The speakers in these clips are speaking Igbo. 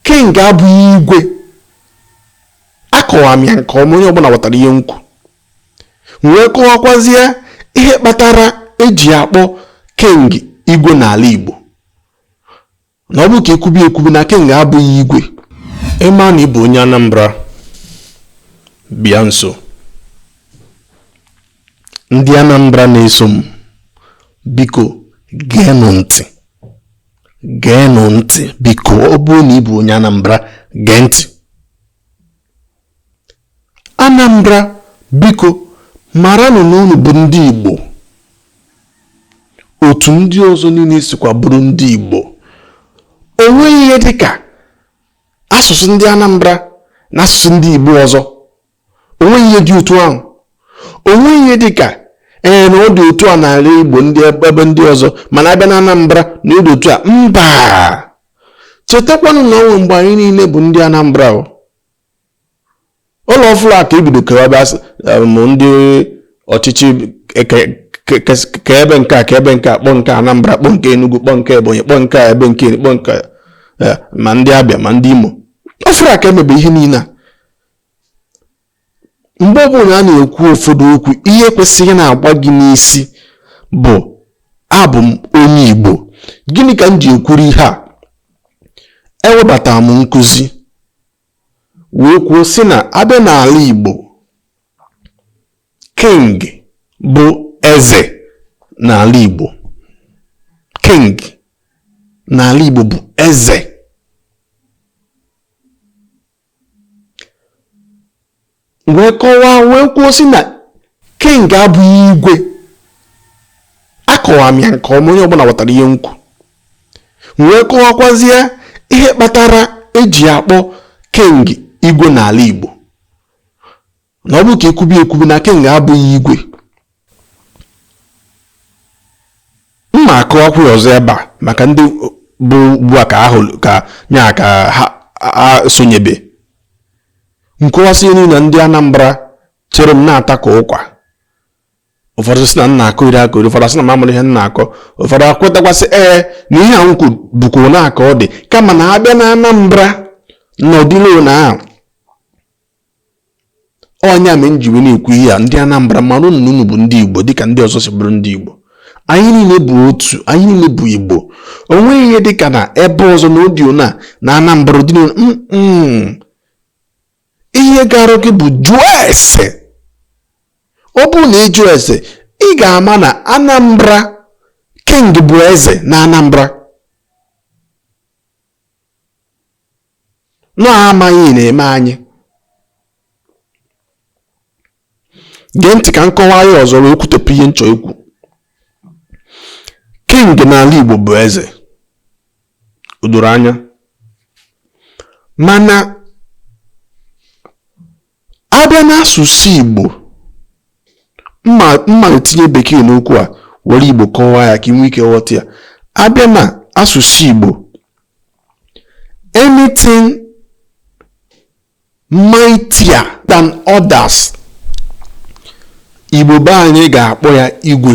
king abụghị igwe akọwaa m ya nke ọma onye ọbụla ghọtara ihe m kwu wee kọwakwazie ihe kpatara eji akpọ king igwe n'ala igbo na ọ bụ ka ekwubi ekwubi na king abụghị igwe ịma na ịbụ onye anambra bịa nso ndị anambra na-eso m biko geenụ ntị geenụ ntị biko ọ bụrụ na ị bụ onye Anambra gee ntị Anambra biko maranụ na unu bụ ndị Igbo otu ndị ọzọ niile sikwa bụrụ ndị Igbo o nweghị ihe dịka asụsụ ndị Anambra na asụsụ ndị Igbo ọzọ onweghị ihe dị otu ahụ onweghị ihe dị ka ee na ọ dị otu a n'ala Igbo ndị ebe ndị ọzọ mana abịa na Anambra na ọ dị otu a mba chetakwanụ na o nwe mgbe anyị niile bụ ndị Anambra ụlọ ọfụrụ a ka ebido kewaba um, ndị ọchịchị e, kebe nke a kebe nke a kpọ nke Anambra kpọ nke Enugu kpọ nke Ebonyi kpọ nke ebe nke kpọ nke e, ma ndị Abịa ma ndị Imo ọfụrụ a ka emebe ihe niile a mgbe ọbụla a na-ekwu ụfọdụ okwu ihe kwesịrị na-agba gị n'isi bụ abụ m onye Igbo gịnị ka m ji ekwuru ihe a ewebatara m nkụzi wee kwuo sị na abịa n'ala Igbo king bụ eze n'ala Igbo king n'ala Igbo bụ eze wee kọwaa wee kwuo sị na king abụghị igwe akọwaa m ya nke ọma onye ọbụla ghọtara ihe m kwu wee kọwakwazie ihe kpatara eji akpọ king igwe n'ala igbo na ọ bụ ka ekwubi ekwubi na King abụghị igwe m ma akọwakwu ọzọ ebe a maka ndị bụ ugbu a ka ahụ ka nya ka ha sonyebe m kọwasị nụ na ndị Anambra chere m na-ata ka ụkwa ụfọdụ sị na m na-akọyeri akọyeri ụfọdụ sị na m amarọ ihe m na-akọ ụfọdụ ekwetakwa sị ee na ihe a m kwu bụkwa na aka ọ dị kama na abịa na Anambra na ọ dịrọ ụna ahụ ọ nya me m ji wee na-ekwu ihe a ndị Anambra maranụ na unu bụ ndị Igbo dịka ndị ọzọ si bụrụ ndị Igbo anyị niile bụ otu anyị niile bụ Igbo o nweghị ihe dịka na ebe ọzọ na ọ dị ụna na Anambra dị ihe gara gị bụ jụọ ese ọ bụrụ na ị jụọ ese ị ga-ama na Anambra king bụ eze na Anambra na amaghị na-eme anyị gee ntị ka m kọwaa ya ọzọ wee kwutepụ ihe m chọ ikwu king n'ala Igbo bụ eze o doro anya mana A bịa n'asụsụ Igbo, m ma-etinye bekee n'okwu a were Igbo kọwaa ya ka ị nwee ike ghọta ya. A bịa na asụsụ Igbo, anything mightier than others, Igbo be anyị ga-akpọ ya igwe.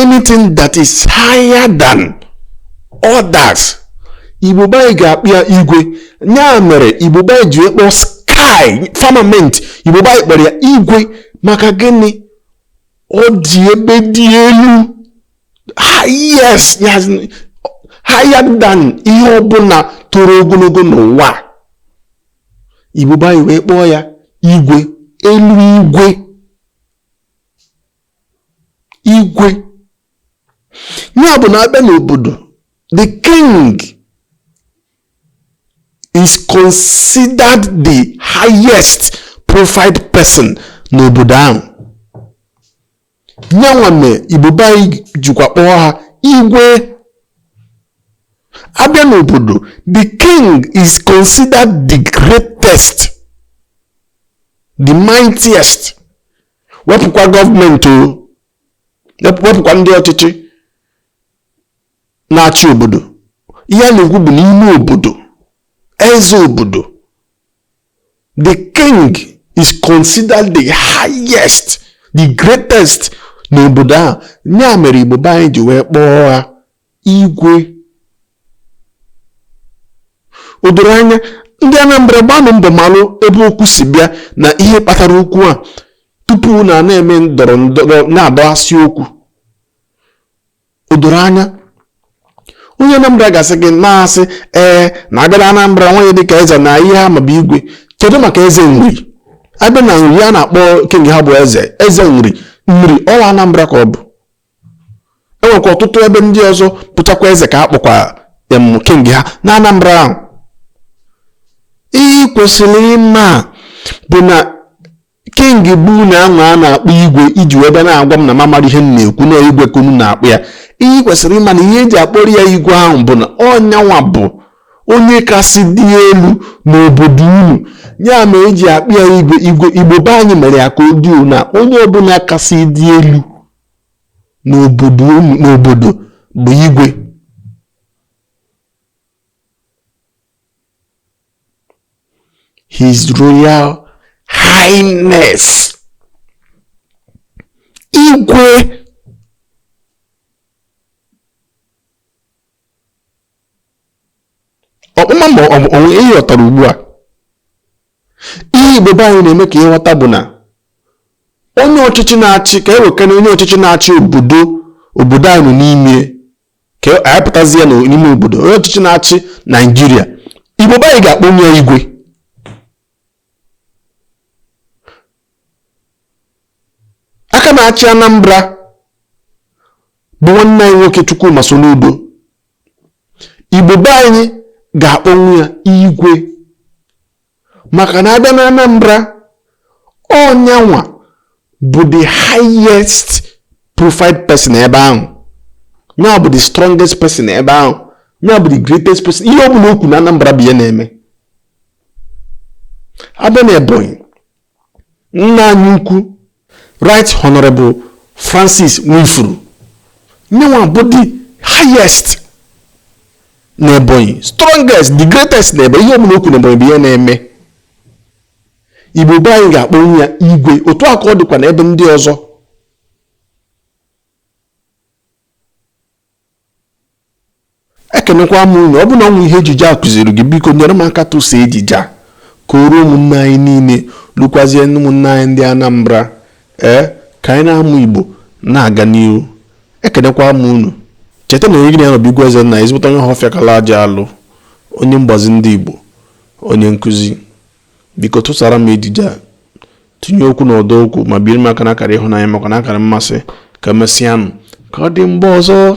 anything that is higher than others igbo be anyị ga-akpọ ya igwe ya mere igbo be anyị ji wee kpọọ sky firmament igbo be anyị kpọrọ ya igwe maka gịnị ọ dị ebe dị elu yes higher than ihe ọbụla toro ogologo n'ụwa igbo be anyị wee kpọọ ya igwe elu igwe igwe ya bụ na a bịa n'obodo the king is considered the highest profiled person n'obodo ahụ nyanwa me igbo be anyị jikwa kpọọ ha igwe a bịa n'obodo the king is considered the greatest the mightiest wepụkwa gọọmenti o wepụkwa ndị ọchịchị na-achị obodo ihe a na-ekwu bụ n'ime obodo eze obodo the king is considered the highest the greatest n'obodo ahụ ya mere igbo be anyị ji wee kpọọ ha Igwe. O doro anya ndị Anambra gbaanụ mbọ malụ ebe okwu si bịa na ihe kpatara okwu a tupu unu a na-eme ndọrọ ndọrọ na-adọghasị okwu o doro anya onye Anambra ga-asị gị na-asị ee na a bịa Anambra enweghị ihe dịka eze na ihe ha ma bụ igwe kedu maka eze nri a bịa na nri ihe a na-akpọ king ha bụ eze eze nri nri ọ kwa Anambra ka ọ bụ enwekwa ọtụtụ ebe ndị ọzọ bụchakwa eze ka a kpọkwa em king ha na Anambra ahụ ihe i kwesịrị ịma bụ na king be unu ahụ a na-akpọ igwe i ji wee bịa na-agwa m na m amarọ ihe m na-ekwu na igwe ka unu na-akpọ ya ihe i kwesịrị ịma na ihe e ji akpọrọ ya igwe ahụ bụ na ọ nyanwa bụ onye kasị dị elu n'obodo unu ya mere e ji akpọ ya igwe igwe igbo be anyị mere ya ka ọ dị na onye ọbụla kasị dị elu n'obodo n'obodo bụ igwe His Royal Highness igwe ọkpụma ma o nwe ihe ị ghọtara ugbu a ihe igbo be anyị na-eme ka ị ghọta bụ na onye ọchịchị na-achị ka ewekana onye ọchịchị na-achị obodo obodo anyị nọ n'ime ka anyị pụtazịa n'ime obodo onye ọchịchị na-achị naijiria igbo be anyị ga-akpọnwu ya igwe aka na-achị anambra bụ nwanne anyị nwoke Chukwuma Soludo igbo be anyị ga-akpọnwu ya igwe maka na a bịa na anambra ọ nyanwa bụ the highest profile person ebe ahụ nyanwa bụ the strongest person ebe ahụ nya bụ the greatest person ihe ọ bụla o kwu na anambra bụ ihe na-eme a bịa na ebonyi nna anyị ukwu right honorable francis nwifuru nyanwa bụ the highest na ebonyi strongest the greatest na ebonyi ihe ọbụla o kwu na ebonyi bụ ihe na-eme igbo be anyị ga-akpọnwu ya igwe otu a ka ọ dịkwa na ebe ndị ọzọ ekenekwa m unu ọ bụ na o nwe ihe ejije a kụziri gị biko nyere m aka tụsa ejije a ka o ruo ụmụnne anyị niile lukwazie ụmụnne anyị ndị Anambra ee ka anyị na-amụ Igbo na-aga n'ihu ekenekwa m unu cheta na onye gị na ya nọ bụ igwe ezenna ezigbote onye Ọhafịa kala aja alụ onye mgbazi ndị Igbo onye nkụzi biko tụsara m ejije a tinye okwu na ọdọ okwu ma biere m aka na akara ịhụnanya makwa na akara mmasị ka emesịanụ ka ọ dị mgbe ọzọ